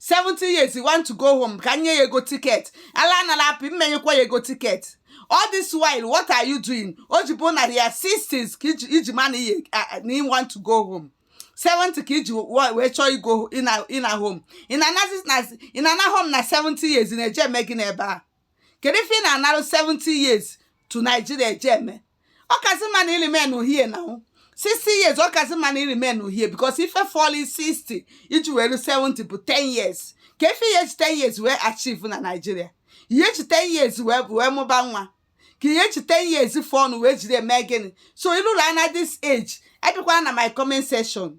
70 years you want to go home ka e nye ya ego tiket ala anala apụ m m enyekwa ya ego tiket all this while what are you doing o ji bụ na your 60s ka i ji i ji ma na ihe na you want to go home 70 ka i ji wa- wee chọọ igo ịna ịna home ị na-anazi na ị na-ana home na 70 years ị na-eje eme gịnị ebe a kedu ife ị na-anarụ 70 years to Nigeria eje eme ọ kazi mma na ị remain nụ here na 60 years ọ kazi mma na ị remain nụ here because ife fọlụ 60 iji wee luo 70 bụ 10 years kee ife ị ya-eji 10 years wee achieve na Nigeria ị ya-eji 10 years wee bụ wee mụba nwa ka ị ya-eji 10 years fọnụ wee jiri eme gịnị so i luola na this age abịakwana my comment section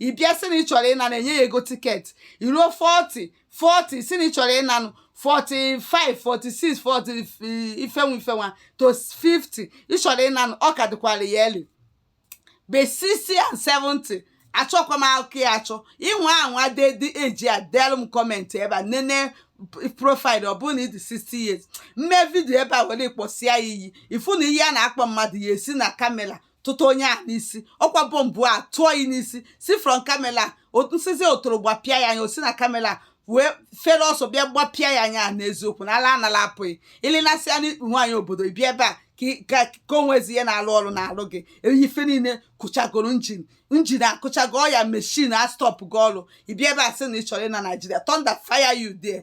ị bịa sị na ị chọrọ ịnanụ e nye ya ego tiketi i ruo 40 40 ị sị na ị chọrọ ịnanụ 45 46 40 ife nwa ife nwa to 50 ị chọrọ ịnanụ ọ ka dịkwa early but 60 and 70 achọkwa m akụkọ ya achọ ịnwa anwa dedi eji a delu m kọmentị ebe a nene profaịlụ ọ bụrụ na ị dị 60 years m mee vidio ebe a were kpọsịa ya iyi ị fụna iyi a na-akpọ mmadụ ya esi na kamera tụta onye ahụ n'isi ọkwa bọmbụ a tụọ ya n'isi si from kamela nsizi otoro gbapịa ya anya o si na kamela wee fere ọsọ bịa gbapịa ya anya n'eziokwu na ala anala apụ gị i linasịa n'ikpu nwaanyị obodo bịa ebe a ka o nwezi ihe na-alụ ọrụ na-alụ gị ife niile kụchagoro njin njin akụchago ọya meshin a stọpụ gị ọrụ ị bịa ebe a sị na ị chọrọ ịna Naijiria thunder fire you there